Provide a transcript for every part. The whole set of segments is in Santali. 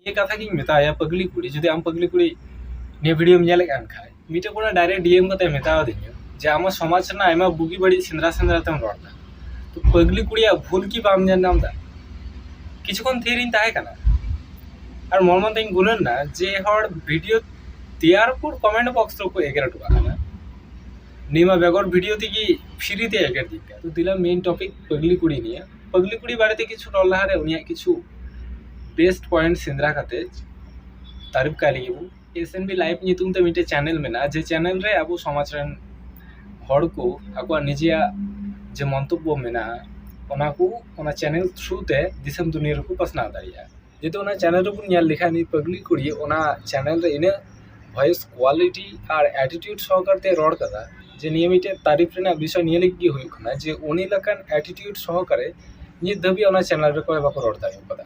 ᱱᱤᱭᱟᱹ ᱠᱟᱛᱷᱟ ᱜᱤᱧ ᱢᱮᱛᱟᱭᱟ ᱯᱟᱹᱜᱽᱞᱤ ᱠᱩᱲᱤ ᱡᱩᱫᱤ ᱟᱢ ᱯᱟᱹᱜᱽᱞᱤ ᱠᱩᱲᱤ ᱱᱤᱭᱟᱹ ᱵᱷᱤᱰᱤᱭᱳᱢ ᱧᱮᱞᱮᱫ ᱠᱟᱱ ᱠᱷᱟᱡ ᱢᱤᱫᱴᱮᱡ ᱠᱚᱲᱟ ᱰᱟᱭᱨᱮᱠᱴ ᱰᱤᱭᱮᱢ ᱠᱟᱛᱮ ᱢᱮᱛᱟᱣᱟᱫᱤᱧᱟ ᱡᱮ ᱟᱢᱟᱜ ᱥᱚᱢᱟᱡᱽ ᱨᱮᱱᱟᱜ ᱟᱭᱢᱟ ᱵᱩᱜᱤ ᱵᱟᱹᱲᱤᱡ ᱥᱮᱸᱫᱽᱨᱟ ᱥᱮᱸᱫᱽᱨᱟ ᱛᱮᱢ ᱨᱚᱲ ᱮᱫᱟ ᱛᱚ ᱯᱟᱹᱜᱽᱞᱤ ᱠᱩᱲᱤᱭᱟᱜ ᱵᱷᱩᱞ ᱠᱤ ᱵᱟᱢ ᱧᱮᱞ ᱧᱟᱢ ᱮᱫᱟ ᱠᱤᱪᱷᱩ ᱠᱷᱚᱱ ᱛᱷᱤᱨ ᱤᱧ ᱛᱟᱦᱮᱸ ᱠᱟᱱᱟ ᱟᱨ ᱢᱚᱱ ᱢᱚᱱ ᱛᱮᱧ ᱜᱩᱱᱟᱹᱱ ᱮᱱᱟ ᱡᱮ ᱦᱚᱲ ᱵᱷᱤᱰᱤᱭᱳ ᱛᱮᱭᱟᱨ ᱯᱚᱨ ᱠᱚᱢᱮᱱᱴ ᱵᱚᱠᱥ ᱨᱮᱠᱚ ᱮᱜᱮᱨ ᱦᱚᱴᱚ ᱠᱟᱜ ᱠᱟᱱᱟ ᱱᱤᱭᱟᱹ ᱢᱟ ᱵᱮᱜᱚᱨ ᱵᱷᱤᱰᱤᱭᱳ ᱛᱮᱜᱮ ᱯᱷᱨᱤ ᱛᱮ ᱮᱜᱮᱨ ᱫᱤᱧ ᱠᱟᱱᱟ ᱛᱚ ᱫᱤᱞᱟ ᱢᱮᱱ ᱴᱚᱯᱤᱠ ᱯᱟᱹᱜᱽᱞᱤ ᱠᱩᱲᱤ ᱱᱤᱭᱮ ᱯᱟᱹᱜᱽᱞᱤ ᱠᱩᱲᱤ ᱵᱟᱨᱮᱛᱮ ᱠᱤᱪᱷᱩ ᱨᱚᱲ ᱞᱟᱦᱟᱨᱮ ᱩᱱᱤᱭᱟᱜ ᱠᱤᱪᱷᱩ ᱵᱮᱥᱴ ᱯᱚᱭᱮᱱᱴ ᱥᱮᱸᱫᱽᱨᱟ ᱠᱟᱛᱮ ᱛᱟᱹᱨᱤᱯᱷ ᱠᱟᱭ ᱞᱟᱹᱜᱤᱫ ᱵᱚ ᱮᱥ ᱮᱱ ᱵᱤ ᱞᱟᱭᱤᱵᱷ ᱧᱩᱛᱩᱢ ᱛᱮ ᱢᱤᱫᱴᱮᱡ ᱪᱮᱱᱮᱞ ᱢᱮᱱᱟᱜᱼᱟ ᱡᱮ ᱪᱮᱱᱮᱞ ᱨᱮ ᱟᱵᱚ ᱥᱚᱢᱟᱡᱽ ᱨᱮᱱ ᱦᱚᱲ ᱠᱚ ᱟᱠᱚᱣᱟᱜ ᱱᱤᱡᱮᱭᱟᱜ ᱡᱮ ᱢᱚᱱᱛᱚᱵᱵᱚ ᱢᱮᱱᱟᱜᱼᱟ ᱚᱱᱟ ᱠᱚ ᱚᱱᱟ ᱪᱮᱱᱮᱞ ᱛᱷᱨᱩ ᱛᱮ ᱫᱤᱥᱚᱢ ᱫᱩᱱᱤᱭᱟᱹ ᱨᱮᱠᱚ ᱯᱟᱥᱱᱟᱣ ᱫᱟᱲᱮᱭᱟᱜᱼᱟ ᱡᱩᱫᱤ ᱚᱱᱟ ᱪᱮᱱᱮᱞ ᱨᱮᱵᱚᱱ ᱧᱮᱞ ᱞᱮᱠᱷᱟᱡ ᱱᱩᱭ ᱯᱟᱹᱜᱽᱞᱤ ᱠᱩᱲᱤ ᱚᱱᱟ ᱪᱮᱱᱮᱞ ᱨᱮ ᱤᱱᱟᱹᱜ ᱵᱷᱚᱭᱮᱥ ᱠᱚᱣᱟᱞᱤᱴᱤ ᱟᱨ ᱮᱴᱤᱴᱤᱭᱩᱰ ᱥᱚᱦᱚᱠᱟᱨ ᱛᱮᱭ ᱨᱚᱲ ᱠᱟᱫᱟ ᱡᱮ ᱱᱤᱭᱟᱹ ᱢᱤᱫᱴᱮᱡ ᱛᱟᱹᱨᱤᱯ ᱨᱮᱱᱟᱜ ᱵᱤᱥᱚᱭ ᱱᱤᱭᱟᱹ ᱞᱟᱹᱜᱤᱫ ᱜᱮ ᱦᱩᱭᱩᱜ ᱠᱟᱱᱟ ᱡᱮ ᱩᱱᱤ ᱞᱮᱠᱟᱱ ᱮᱴᱤᱴᱤᱭᱩᱰ ᱥᱚᱦᱚᱠᱟᱨᱮ ᱱᱤᱛ ᱫᱷᱟᱹᱵᱤᱡ ᱚᱱᱟ ᱪᱮᱱᱮᱞ ᱨᱮ ᱚᱠᱚᱭ ᱦᱚᱸ ᱵᱟᱠᱚ ᱨᱚᱲ ᱫᱟᱲᱮᱣ ᱠᱟᱫᱟ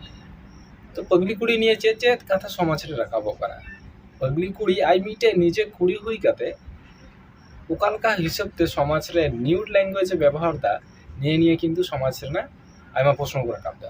ᱛᱚ ᱯᱟᱹᱜᱽᱞᱤ ᱠᱩᱲᱤ ᱱᱤᱭᱟᱹ ᱪᱮᱫ ᱪᱮᱫ ᱠᱟᱛᱷᱟ ᱥᱚᱢᱟᱡᱽ ᱨᱮ ᱨᱟᱠᱟᱵᱚᱜ ᱠᱟᱱᱟ ᱯᱟᱹᱜᱽᱞᱤ ᱠᱩᱲᱤ ᱟᱡ ᱢᱤᱫᱴᱮᱡ ᱱᱤᱡᱮ ᱠᱩᱲᱤ ᱦᱩᱭ ᱠᱟᱛᱮ ᱚᱠᱟ ᱞᱮᱠᱟ ᱦᱤᱥᱟᱹᱵ ᱛᱮ ᱥᱚᱢᱟᱡᱽ ᱨᱮ ᱱᱤᱭᱩᱰ ᱞᱮᱝᱜᱩᱭᱮᱡᱽ ᱮ ᱵᱮᱵᱚᱦᱟᱨᱫᱟ ᱱᱤᱭᱟᱹ ᱱᱤᱭᱮ ᱠᱤᱱᱛᱩ ᱥᱚᱢᱟᱡᱽ ᱨᱮᱱᱟᱜ ᱟᱭᱢᱟ ᱯᱨᱚᱥᱱᱚ ᱠᱚ ᱨᱟᱠᱟᱵᱫᱟ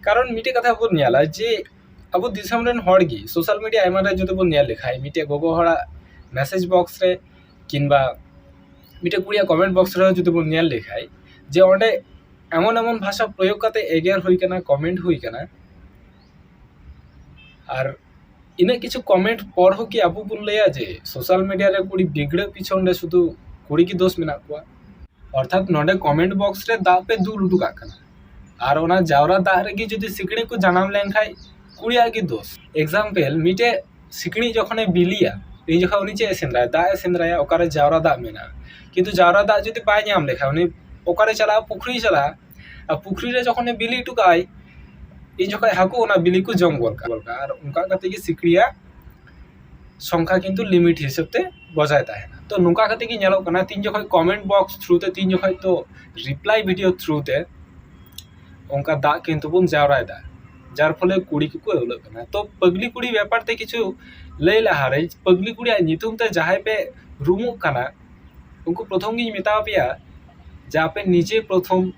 ᱠᱟᱨᱚᱱ ᱢᱤᱫᱴᱮᱡ ᱠᱟᱛᱷᱟ ᱵᱚᱱ ᱧᱮᱞᱟ ᱡᱮ ᱟᱵᱚ ᱫᱤᱥᱚᱢ ᱨᱮᱱ ᱦᱚᱲ ᱜᱮ ᱥᱳᱥᱟᱞ ᱢᱤᱰᱤᱭᱟ ᱟᱭᱢᱟ ᱨᱮ ᱡᱩᱫᱤ ᱵᱚᱱ ᱧᱮᱞ ᱞᱮᱠᱷᱟᱡ ᱢᱤᱫᱴᱮᱡ ᱜᱚᱜᱚ ᱦᱚᱲᱟᱜ ᱢᱮᱥᱮᱡᱽ ᱵᱚᱠᱥ ᱨᱮ ᱠᱤᱢᱵᱟ ᱢᱤᱫᱴᱮᱡ ᱠᱩᱲᱤᱭᱟᱜ ᱠᱚᱢᱮᱱᱴ ᱵᱚᱠᱥ ᱨᱮ ᱡᱩᱫᱤ ᱵᱚᱱ ᱧᱮᱞ ᱞᱮᱠᱷᱟᱡ ᱡᱮ ᱚᱸᱰᱮ ᱮᱢᱚᱱ ᱮᱢᱚᱱ ᱵᱷᱟᱥᱟ ᱯᱨᱚᱭᱳᱜᱽ ᱠᱟᱛᱮ ᱮᱜᱮᱨ ᱦᱩᱭ ᱠᱟᱱᱟ ᱠᱚᱢᱮᱱᱴ ᱦᱩᱭ ᱠᱟᱱᱟ ᱟᱨ ᱤᱱᱟᱹᱜ ᱠᱤᱪᱷᱩ ᱠᱚᱢᱮᱱᱴ ᱯᱚᱨ ᱦᱚᱸ ᱠᱤ ᱟᱵᱚ ᱵᱚᱱ ᱞᱟᱹᱭᱟ ᱡᱮ ᱥᱳᱥᱟᱞ ᱢᱤᱰᱤᱭᱟ ᱨᱮ ᱠᱩᱲᱤ ᱵᱤᱜᱽᱲᱟᱹᱜ ᱯᱤᱪᱷᱚᱱ ᱨᱮ ᱥᱩᱫᱷᱩ ᱠᱩᱲᱤ ᱜᱮ ᱫᱳᱥ ᱢᱮᱱᱟᱜ ᱠᱚᱣᱟ ᱚᱨᱛᱷᱟᱛ ᱱᱚᱸᱰᱮ ᱠᱚᱢᱮᱱᱴ ᱵᱚᱠᱥ ᱨᱮ ᱫᱟᱜ ᱯᱮ ᱫᱩᱞ ᱦᱚᱴᱚ ᱠᱟᱜ ᱠᱟᱱᱟ ᱟᱨ ᱚᱱᱟ ᱡᱟᱣᱨᱟ ᱫᱟᱜ ᱨᱮᱜᱮ ᱡᱩᱫᱤ ᱥᱤᱠᱬᱤᱡ ᱠᱚ ᱡᱟᱱᱟᱢ ᱞᱮᱱᱠᱷᱟᱱ ᱠᱩᱲᱤᱭᱟᱜ ᱜᱮ ᱫᱳᱥ ᱮᱠᱡᱟᱢᱯᱮᱞ ᱢᱤᱫᱴᱮᱱ ᱥᱤᱠᱬᱤᱡ ᱡᱚᱠᱷᱚᱱᱮ ᱵᱤᱞᱤᱭᱟ ᱩᱱ ᱡᱚᱠᱷᱚᱱ ᱩᱱᱤ ᱪᱮᱫ ᱮ ᱥᱮᱸᱫᱽᱨᱟᱭᱟ ᱫᱟᱜ ᱮ ᱥᱮᱸᱫᱽᱨᱟᱭᱟ ᱚᱠᱟᱨᱮ ᱡᱟᱣᱨᱟ ᱫᱟᱜ ᱢᱮᱱᱟᱜᱼᱟ ᱠᱤᱱᱛᱩ ᱡᱟᱣᱨᱟ ᱫᱟᱜ ᱡᱩᱫᱤ ᱵᱟᱭ ᱧᱟᱢ ᱞᱮᱠᱷᱟᱱ ᱩᱱᱤ ᱚᱠᱟᱨᱮᱭ ᱪᱟᱞᱟᱜᱼᱟ ᱯᱩᱠᱷᱨᱤᱭ ᱪᱟᱞᱟᱜᱼᱟ ᱟᱨ ᱯᱩᱠᱷᱨᱤ ᱨᱮ ᱡᱚᱠᱷᱚᱱᱮ ᱵᱤᱞᱤ ᱦᱚᱴᱚ ᱠᱟᱜᱼᱟᱭ ᱩᱱ ᱡᱚᱠᱷᱚᱱ ᱦᱟᱹᱠᱩ ᱚᱱᱟ ᱵᱤᱞᱤ ᱠᱚ ᱡᱚᱢ ᱜᱚᱫ ᱠᱟᱜᱼᱟ ᱟᱨ ᱚᱱᱠᱟ ᱠᱟᱛᱮᱫ ᱜᱮ ᱥᱤᱠᱬᱤᱡ ᱟᱜ ᱥᱚᱝᱠᱷᱟ ᱠᱤᱱᱛᱩ ᱞᱤᱢᱤᱴ ᱦᱤᱥᱟᱹᱵ ᱛᱮ ᱵᱚᱡᱟᱭ ᱛᱟᱦᱮᱱᱟ ᱛᱚ ᱱᱚᱝᱠᱟ ᱠᱟᱛᱮ ᱜᱮ ᱧᱮᱞᱚᱜ ᱠᱟᱱᱟ ᱛᱤᱱ ᱡᱚᱠᱷᱚᱡ ᱠᱚᱢᱮᱱᱴ ᱵᱚᱠᱥ ᱛᱷᱨᱩ ᱛᱮ ᱛᱤᱱ ᱡᱚᱠᱷᱚᱡ ᱛᱚ ᱨᱤᱯᱞᱟᱭ ᱵᱷᱤᱰᱭᱳ ᱛᱷᱨᱩ ᱛᱮ ᱚᱱᱠᱟ ᱫᱟᱜ ᱠᱤᱱᱛᱩ ᱵᱚᱱ ᱡᱟᱣᱨᱟᱭᱮᱫᱟ ᱡᱟᱨ ᱯᱷᱚᱞᱮ ᱠᱩᱲᱤ ᱠᱚᱠᱚ ᱟᱹᱣᱞᱟᱹᱜ ᱠᱟᱱᱟ ᱛᱚ ᱯᱟᱹᱜᱽᱞᱤ ᱠᱩᱲᱤ ᱵᱮᱯᱟᱨ ᱛᱮ ᱠᱤᱪᱷᱩ ᱞᱟᱹᱭ ᱞᱟᱦᱟ ᱨᱮ ᱯᱟᱹᱜᱽᱞᱤ ᱠᱩᱲᱤᱭᱟᱜ ᱧᱩᱛᱩᱢ ᱛᱮ ᱡᱟᱦᱟᱸᱭ ᱯᱮ ᱨᱩᱢᱩᱜ ᱠᱟᱱᱟ ᱩᱱᱠᱩ ᱯᱨᱚᱛᱷᱚᱢ ᱜᱤᱧ ᱢᱮᱛᱟᱣ ᱯᱮᱭᱟ ᱡᱮ ᱟᱯᱮ ᱱᱤᱡᱮ ᱯᱨᱚᱛᱷᱚᱢ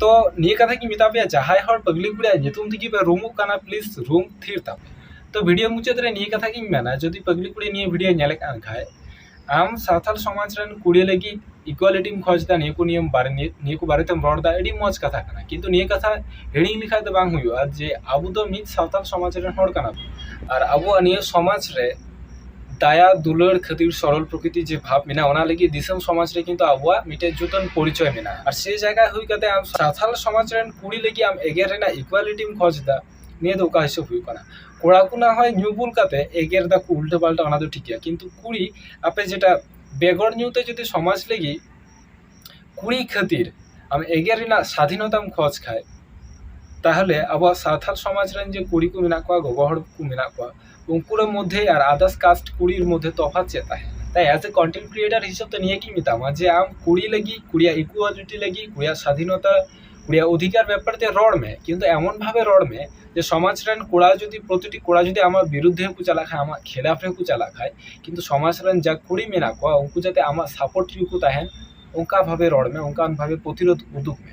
ᱛᱚ ᱱᱤᱭᱟᱹ ᱠᱟᱛᱷᱟ ᱜᱤᱧ ᱢᱮᱛᱟ ᱯᱮᱭᱟ ᱡᱟᱦᱟᱸᱭ ᱦᱚᱲ ᱯᱟᱹᱜᱽᱞᱤ ᱠᱩᱲᱤᱭᱟᱜ ᱧᱩᱛᱩᱢ ᱛᱮᱜᱮ ᱯᱮ ᱨᱩᱢᱩᱜ ᱠᱟᱱᱟ ᱯᱞᱤᱡᱽ ᱨᱩᱢ ᱛᱷᱤᱨ ᱛᱟᱯᱮ ᱛᱚ ᱵᱷᱤᱰᱤᱭᱳ ᱢᱩᱪᱟᱹᱫ ᱨᱮ ᱱᱤᱭᱟᱹ ᱠᱟᱛᱷᱟ ᱜᱤᱧ ᱢᱮᱱᱟ ᱡᱩᱫᱤ ᱯᱟᱹᱜᱽᱞᱤ ᱠᱩᱲᱤ ᱱᱤᱭᱟᱹ ᱵᱷᱤᱰᱤᱭᱳ ᱧᱮᱞᱮᱫ ᱠᱟᱱ ᱠᱷᱟᱡ ᱟᱢ ᱥᱟᱱᱛᱟᱲ ᱥᱚᱢᱟᱡᱽ ᱨᱮᱱ ᱠᱩᱲᱤ ᱞᱟᱹᱜᱤᱫ ᱤᱠᱩᱣᱟᱞᱤᱴᱤᱢ ᱠᱷᱚᱡᱽ ᱮᱫᱟ ᱱᱤᱭᱟᱹ ᱠᱚ ᱱᱤᱭᱮ ᱵᱟᱨᱮ ᱱᱤᱭᱟᱹ ᱠᱚ ᱵᱟᱨᱮᱛᱮᱢ ᱨᱚᱲ ᱮᱫᱟ ᱟᱹᱰᱤ ᱢᱚᱡᱽ ᱠᱟᱛᱷᱟ ᱠᱟᱱᱟ ᱠᱤᱱᱛᱩ ᱱᱤᱭᱟᱹ ᱠᱟᱛᱷᱟ ᱦᱤᱲᱤᱧ ᱞᱮᱠᱷᱟᱡ ᱫᱚ ᱵᱟᱝ ᱦᱩᱭᱩᱜᱼᱟ ᱡᱮ ᱟᱵᱚ ᱫᱚ ᱢᱤᱫ ᱥᱟᱱᱛᱟᱲ ᱥᱚᱢᱟᱡᱽ ᱨᱮᱱ ᱦᱚᱲ ᱠᱟᱱᱟ ᱵᱚᱱ ᱟᱨ ᱟᱵᱚᱣᱟᱜ ᱱᱤᱭᱟᱹ ᱥᱚᱢᱟᱡᱽ ᱨᱮ ᱫᱟᱭᱟ ᱫᱩᱞᱟᱹᱲ ᱠᱷᱟᱹᱛᱤᱨ ᱥᱚᱨᱚᱞ ᱯᱨᱚᱠᱨᱤᱛᱤ ᱡᱮ ᱵᱷᱟᱵᱽ ᱢᱮᱱᱟᱜᱼᱟ ᱚᱱᱟ ᱞᱟᱹᱜᱤᱫ ᱫᱤᱥᱚᱢ ᱥᱚᱢᱟᱡᱽ ᱨᱮ ᱠᱤᱱᱛᱩ ᱟᱵᱚᱣᱟᱜ ᱢᱤᱫᱴᱮᱱ ᱡᱩᱫᱟᱹᱱ ᱯᱚᱨᱤᱪᱚᱭ ᱢᱮᱱᱟᱜᱼᱟ ᱟᱨ ᱥᱮ ᱡᱟᱭᱜᱟ ᱦᱩᱭ ᱠᱟᱛᱮ ᱟᱢ ᱥᱟᱱᱛᱟᱲ ᱥᱚᱢᱟᱡᱽ ᱨᱮᱱ ᱠᱩᱲᱤ ᱞᱟᱹᱜᱤᱫ ᱟᱢ ᱮᱜᱮᱨ ᱨᱮᱱᱟᱜ ᱤᱠᱩᱣᱟᱞᱤᱴᱤᱢ ᱠᱷᱚᱡᱽ ᱮᱫᱟ ᱱᱤᱭᱟᱹ ᱫᱚ ᱚᱠᱟ ᱦᱤᱥᱟᱹᱵ ᱦᱩᱭᱩᱜ ᱠᱟᱱᱟ ᱠᱚᱲᱟ ᱠᱚ ᱱᱟ ᱦᱚᱭ ᱧᱩ ᱵᱩᱞ ᱠᱟᱛᱮ ᱮᱜᱮᱨ ᱮᱫᱟᱠᱚ ᱩᱞᱴᱟᱹ ᱯᱟᱞᱴᱟ ᱚᱱᱟ ᱫᱚ ᱴᱷᱤᱠ ᱜᱮᱭᱟ ᱠᱤᱱᱛᱩ ᱠᱩᱲᱤ ᱟᱯᱮ ᱡᱮᱴᱟ ᱵᱮᱜᱚᱨ ᱧᱩ ᱛᱮ ᱡᱩᱫᱤ ᱥᱚᱢᱟᱡᱽ ᱞᱟᱹᱜᱤᱫ ᱠᱩᱲᱤ ᱠᱷᱟᱹᱛᱤᱨ ᱟᱢ ᱮᱜᱮᱨ ᱨᱮᱱᱟᱜ ᱥᱟᱫᱷᱤᱱᱚᱛᱟᱢ ᱠᱷᱚᱡᱽ ᱠᱷᱟᱡ ᱛᱟᱦᱚᱞᱮ ᱟᱵᱚᱣᱟᱜ ᱥᱟᱶᱛᱟ ᱥᱚᱢᱟᱡᱽ ᱨᱮᱱ ᱡᱮ ᱠᱩᱲᱤ ᱠᱚ ᱢᱮᱱᱟᱜ ᱠᱚᱣᱟ ᱜᱚᱜᱚ ᱦᱚᱲ ᱠᱚ ᱢᱮᱱᱟᱜ ᱠᱚᱣᱟ ᱩᱱᱠᱩ ᱨᱮᱱ ᱢᱚᱫᱽᱫᱷᱮ ᱟᱨ ᱟᱫᱟᱨᱥ ᱠᱟᱥᱴ ᱠᱩᱲᱤ ᱢᱚᱫᱽᱫᱷᱮ ᱛᱚᱯᱷᱟᱛ ᱪᱮᱫ ᱛᱟᱦᱮᱸ ᱛᱟᱭ ᱮᱡ ᱮ ᱠᱚᱱᱴᱮᱱᱴ ᱠᱨᱤᱭᱮᱴᱟᱨ ᱦᱤᱥᱟᱹᱵ ᱛᱮ ᱱᱤᱭᱟᱹ ᱜᱤᱧ ᱢᱮᱛᱟᱢᱟ ᱡᱮ ᱟᱢ ᱠᱩᱲᱤ ᱞᱟᱹᱜᱤᱫ ᱠᱩᱲᱤᱭᱟᱜ ᱤᱠᱩᱣᱟᱞᱤᱴᱤ ᱞᱟᱹᱜᱤᱫ ᱠᱩᱲᱤᱭᱟᱜ ᱥᱟᱫᱷᱤᱱᱚᱛᱟ ᱠᱩᱲᱤᱭᱟᱜ ᱚᱫᱷᱤᱠᱟᱨ ᱵᱮᱯᱟᱨ ᱛᱮ ᱨᱚᱲ ᱢᱮ ᱠᱤᱱᱛᱩ ᱮᱢᱚᱱ ᱵᱷᱟᱵᱮ ᱨᱚᱲ ᱢᱮ ᱡᱮ ᱥᱚᱢᱟᱡᱽ ᱨᱮᱱ ᱠᱚᱲᱟ ᱡᱩᱫᱤ ᱯᱨᱚᱛᱤᱴᱤ ᱠᱚᱲᱟ ᱡᱩᱫᱤ ᱟᱢᱟᱜ ᱵᱤᱨᱩᱫᱽᱫᱷᱮ ᱦᱚᱸᱠᱚ ᱪᱟᱞᱟᱜ ᱠᱷᱟᱱ ᱟᱢᱟᱜ ᱠᱷᱤᱞᱟᱯ ᱨᱮᱦᱚᱸ ᱠᱚ ᱪᱟᱞᱟᱜ ᱠᱷᱟᱱ ᱠᱤᱱᱛᱩ ᱥᱚᱢᱟᱡᱽ ᱨᱮᱱ ᱡᱟ ᱠᱩᱲᱤ ᱢᱮᱱᱟᱜ ᱠᱚᱣᱟ ᱩᱱᱠᱩ ᱡᱟᱛᱮ ᱟᱢᱟᱜ ᱥᱟᱯᱳᱨᱴ ᱨᱮᱜᱮ ᱠᱚ ᱛᱟᱦᱮᱱ ᱚᱱᱠᱟ ᱵᱷᱟᱵᱮ ᱨᱚᱲ ᱢᱮ ᱚᱱᱠᱟᱱ ᱵᱷᱟᱵᱮ ᱯᱨᱚᱛᱤᱨᱳᱫᱷ ᱩᱫᱩᱜᱽ ᱢᱮ